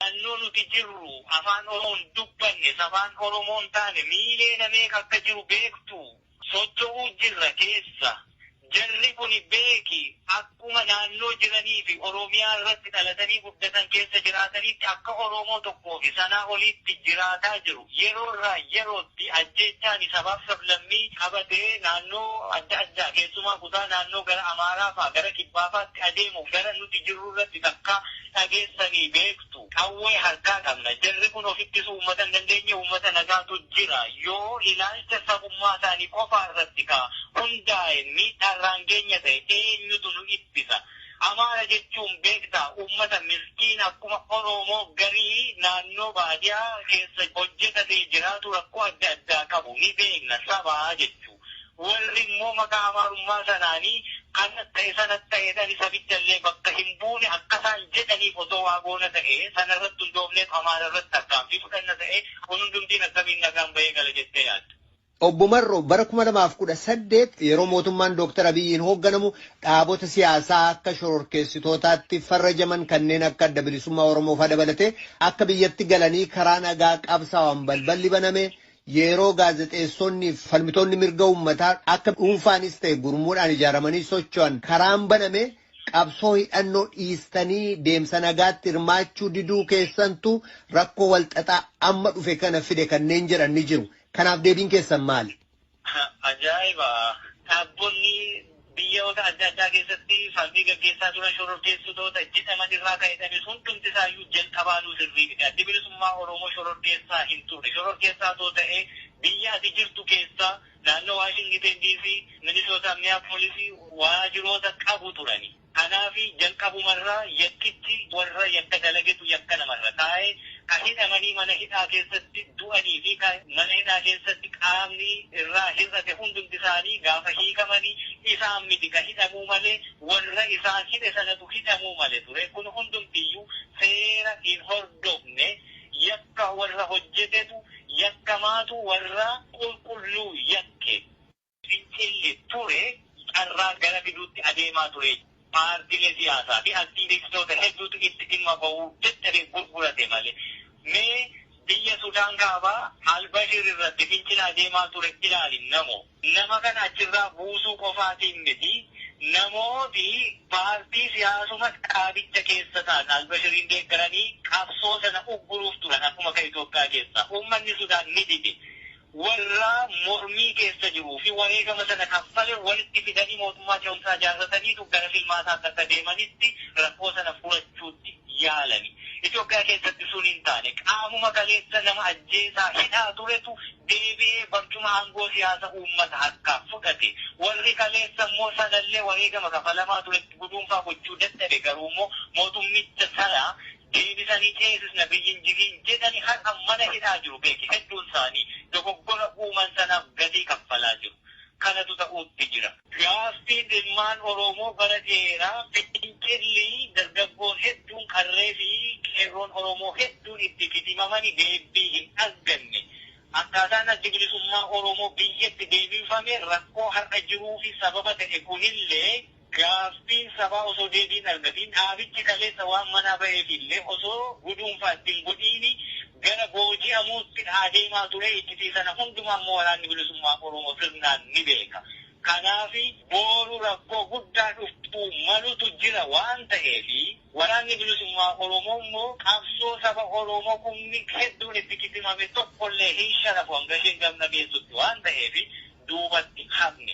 Naannoo nuti jirru Afaan Oromoo hin dubbanne, safaan Oromoo hin taane miiliyoona meeqa akka jiru beektuu? Socho'uu jirra keessa. Jarri kuni beeki akkuma naannoo jiranii fi Oromiyaa irratti dhalatanii guddatan keessa jiraataniitti akka Oromoo tokkoo fi sanaa oliitti jiraataa jiru. Yeroorraa yerootti ajjeechaani sabaaf sablammii qabatee naannoo adda addaa keessumaa kutaa naannoo gara Amaaraa faa gara Kibbaa faatti adeemu gara nuti jirru irratti takka dhageessanii beektu? Qawwee harkaa qabna. Jarri kun of ittisuu uummata hin dandeenye uummata nagaatu jira. Yoo ilaalcha sabummaa isaanii qofaa irratti kaa hundaa'e miidhaa irraan geenya ta'e eenyutu nu ittisa? Amaara jechuun beektaa ummata miskiina akkuma Oroomoo garii naannoo baadiyaa keessa hojjetatee jiraatu rakkoo adda addaa qabu ni beekna sabaa jechuu warri immoo maqaa Amaarummaa sanaani kanas ta'e sanas ta'eedhani sabicha illee bakka hin buune akka isaan jedhaniif osoo waa goona ta'e sana irratti hundoofneet Amaara irratti tarkaanfii fudhanna ta'e kun hundumtiin akkamiin nagaan bahee gala jettee yaadda? Obbo Marroo, Bara 2018 yeroo mootummaan Dooktar Abiyyiin hoogganamu dhaabota siyaasaa akka shororkeessitootaatti farrajaman kanneen akka Adda Bilisummaa Oromoofaa dabalatee akka biyyatti galanii karaa nagaa qabsaawan balballi baname, yeroo gaazexeessonni fi falmitoonni mirga uummataa akka dhuunfaanis ta'e gurmuudhaan ijaaramanii socho'an karaan baname qabsoo hidhannoo dhiistanii deemsa nagaatti hirmaachuu diduu keessantu rakkoo walxaxaa amma dhufe kana fide kanneen jedhan ni jiru. Kanaaf deebiin keessan maali? Ajaa'iba! Dhaabonni biyyoota adda addaa keessatti falmii gaggeessaa turan shororkeessitoota jedhaman irraa kan hidhame hundumti isaa iyyuu jalqabaanuu sirrii miti. Addi Bilisummaa Oromoo shororkeessaa hin turre. Shororkeessaa otoo ta'ee biyya ati jirtu keessa naannoo Waashingiteen DC, Minisootaa, Miyaapoolisii waajiroota qabu turani. Kanaafi jalqabumarraa yakkichi warra yakka dalagetu yakka namarra kaa'e, ka hidhamanii mana hidhaa keessatti du'anii fi ka mana hidhaa keessatti qaamni irraa hir'ate hundumti isaanii gaafa hiikamani isaan miti ka hidhamuu male, warra isaan hidhe sanatu hidhamuu male ture. Kun hundumtiyyuu seera hin hordofne. Yakka warra hojjetetu yakkamaatu warra qulqulluu yakke. Fincilli ture carraa gara fiduutti adeemaa ture. Paartilee siyaasaa fi aktiivistoota hedduutu itti dhimma bahuu dadhabee gurgurate malee. Mee biyya Sudaan Kaabaa Al-Bashir irratti fincila adeemaa ture ilaali namo. Nama kana achirraa buusuu qofaatiin miti, namooti paartii siyaasuma dhaabicha keessa ta'an Al-Bashiriin deeggaranii qabsoo sana ugguruuf turan akkuma kan Itoophiyaa keessaa. Uummanni Sudaan ni dide. warraa mormii keessa jiruu fi wareegama sana kaffale walitti fidanii mootummaa ce'umsaa ijaarrataniitu gara filmaata adda akka deemanitti rakkoo sana furachuutti yaalani. Itoophiyaa keessatti sun hin taane. Qaamuma kaleessa nama ajjeesaa, hidhaa turetu deebi'ee barcuma aangoo siyaasa uummata harkaa fudhate. Warri kaleessa immoo sanallee wareegama kafalamaa turetti guduunfaa gochuu dadhabe. Garuummoo mootummicha sana Deebisanii ceesisna biyyi hin jigiin jedhani har'a mana hidhaa jiru beeki hedduun isaanii. Dogoggora uuman sanaaf gatii kaffalaa jiru. Kanatu ta'uutti jira. Gaaffiin ilmaan Oromoo bara dheeraa fincilli dargaggoon hedduun qarree fi qeerroon Oromoo hedduun itti kitimamani deebbii hin arganne. Akkaataan Addi Bilisummaa Oromoo biyyatti deebifame rakkoo har'a jiruufi sababa ta'e kunillee Gaaffiin sabaa osoo deebii hin argatiin dhaabichi kaleessa waan manaa baheef illee osoo guduunfaa itti hin godhiin gara booji'amuutti adeemaa ture. Iccitii sana hundumaa immoo Waraanni Bilisummaa Oromoo sirnaan ni beeka. Kanaaf booru rakkoo guddaa dhufuu malutu jira waan ta'eef Waraanni Bilisummaa Oromoo immoo qabsoo saba Oromoo kumni hedduun itti kitimame tokko illee hin sharafu hanga isheen gamna geessutti waan ta'eef duubatti hin hafne.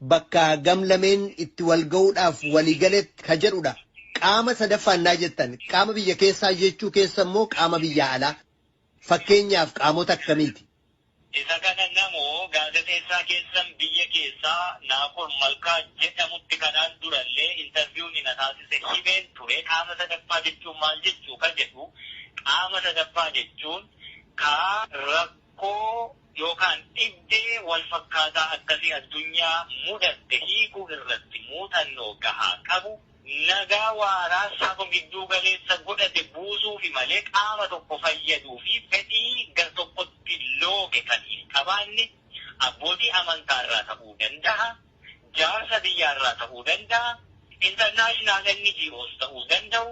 bakka gam lameen itti wal ga'uudhaaf walii galetti ka jedhu dha. Qaama sadaffaa ennaa jettan qaama biyya keessaa jechuu keessa immoo qaama biyyaa alaa? Fakkeenyaaf qaamota akkamiiti? Isa kana namoo gaazexeessaa keessan biyya keessaa Naakoor Malkaa jedhamutti kanaan dura illee interview ni na taasise himeen ture. Qaama sadaffaa jechuun maal jechuu ka jedhu qaama sadaffaa jechuun ka rakkoo. yookaan dhibdee walfakkaataa akkasii addunyaa mudatte hiikuu irratti muuxannoo gahaa qabu, nagaa waaraa saba gidduu galeessa godhate buusuufi malee qaama tokko fayyaduufi fedhii gartokkotti looge kan hin qabaanne abbootii amantaarraa ta'uu danda'a. jaarsa biyyaa irraa ta'uu danda'a, international NGOs ta'uu danda'u,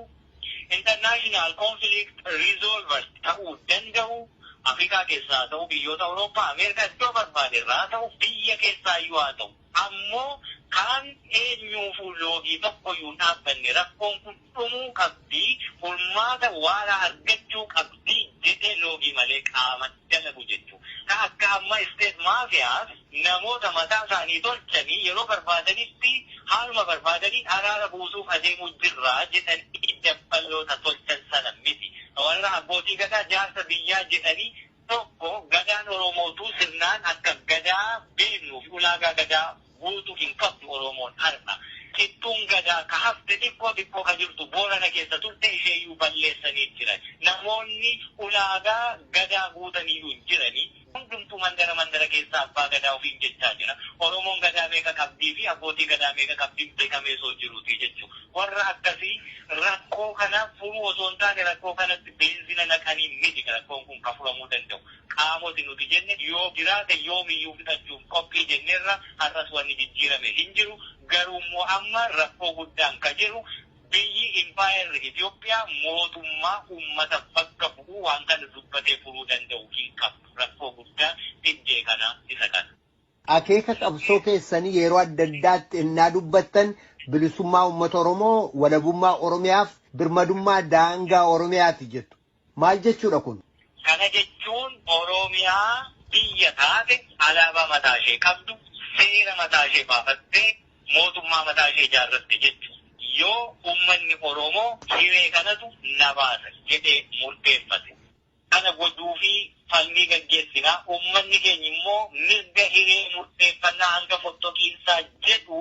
international conflict resolvers ta'uu danda'u, Afrikaa keessaa haa ta'u, biyyoota Awurooppaa, Ameerikaa iddoo barbaade irraa haa ta'u, biyya keessaa iyyuu haa ta'u, ammoo kaan eenyuufuu loogii tokko iyyuu hin dhaabbanne rakkoon kun. dhumuu qabdi, furmaata waaraa argachuu qabdi jedhee loogii malee qaama dalagu jechu. Ka akka amma state mafias namoota mataa isaanii tolchanii yeroo barbaadanitti haaluma barbaadaniin araara buusuuf adeemuu jirra jedhanii dabballoota tolchan sana miti. Ka warra abbootii gadaa jaarsa biyyaa jedhanii Tokko Gadaan Oromootuu sirnaan akka Gadaa beeknuu fi ulaagaa Gadaa guutu hin qabdu Oromoon har'a. Cittuun Gadaa ka hafte xiqqoo xiqqoo ka jirtu Boorana keessa turte isheeyyuu balleessaniit jiran. Namoonni ulaagaa Gadaa guutaniyyuu hin jirani. Hundumtuu mandara mandara keessaa Abbaa Gadaa ofiin jechaa jira. Oromoon Gadaa meeqa qabdii fi Abbootii Gadaa meeqa qabdi beekamee osoo jiruutii jechuudha. Warra akkasii rakkoo kana furuu osoo hin taane rakkoo kanatti beenzina naqanii miti rakkoon kun kan furamuu danda'u. Qaamoti nuti jenne yoo jiraate yoomiyyuu fixachuuf qophii jenneerra har'as wanni jijjiirame hin jiru. Garuummoo amma rakkoo guddaan ka jiru biyyi impaayerri Itoophiyaa mootummaa ummata bakka bu'u waan kana dubbatee furuu danda'u hin qabdu. Rakkoo guddaan dhibdee kanaa isa kana. Akeeka qabsoo keessanii yeroo adda addaatti ennaa dubbattan bilisummaa uummata Oromoo, walabummaa Oromiyaaf birmadummaa daangaa Oromiyaati jettu. Maal jechuudha kun? Kana jechuun Oromiyaa biyya taate, alaabaa mataa ishee qabdu, seera mataa ishee baafattee, mootummaa mataa ishee ijaarratte jechuudha. Yoo uummanni Oromoo hiree kanatu na baasa jedhee murteeffate. Kana gochuufii falmii gaggeessina. Uummanni keenya immoo mirga hiree murteeffannaa hanga fottoqiinsaa jedhu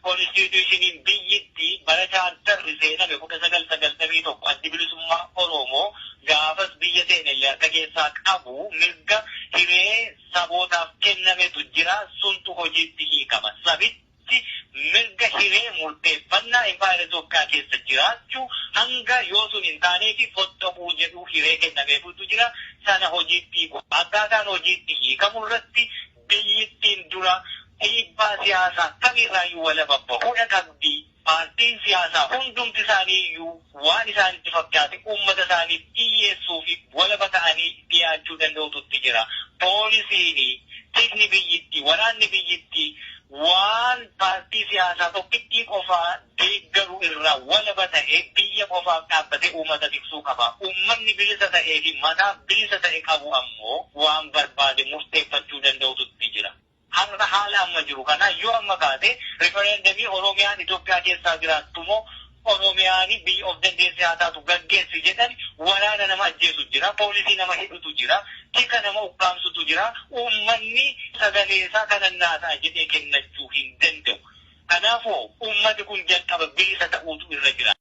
Konistiitiyushiniin biyyitti bara chaartarri seename 1991 Addi Bilisummaa Oroomoo gaafas biyya seene illee harka keessaa qabu mirga hiree sabootaaf kennametu jira. Suntu hojiitti hiikama. Sabichi. Itoophiyaatti mirga hiree murteeffannaa Impaayera Itoophiyaa keessa jiraachuu hanga yoo sun hin taaneefi foxxoquu jedhu hiree kennameefuutu jira. Sana hojiitti hiikuu. Akkaataan hojiitti hiikamu irratti biyyittiin dura dhiibbaa siyaasaa kamiirraayyuu walaba bahuudha qabdi. Paartiin siyaasaa hundumti isaaniiyyuu waan isaanitti fakkaate uummata isaaniif dhiyyeessuu fi walaba ta'anii dhiyaachuu danda'utu itti jira. Poolisiin, tikni biyyittii, waraanni biyyittii waan paartii siyaasaa tokkittii qofaa deeggaru irraa walaba ta'ee biyya qofaaf dhaabbatee uummata tiksuu qaba. Uummanni bilisa ta'ee fi mataaf bilisa ta'e qabu ammoo waan barbaade murteeffachuu danda'utu itti jira. Har'a haala amma jiru kana yoo amma kaate referendemii Oromiyaan Itoophiyaa keessaa jiraattu moo Oromiyaan biyya of dandeesse haa taatu gaggeessi jedhani waraana nama ajjeesu jira, poolisii nama hidhutu jira, tika nama ukkaamsutu jira, uummanni sagalee isaa kanan naa ta'a jedhee kennachuu hin danda'u. Kanaafoo uummati kun jalqaba bilisa ta'uutu irra jiraata.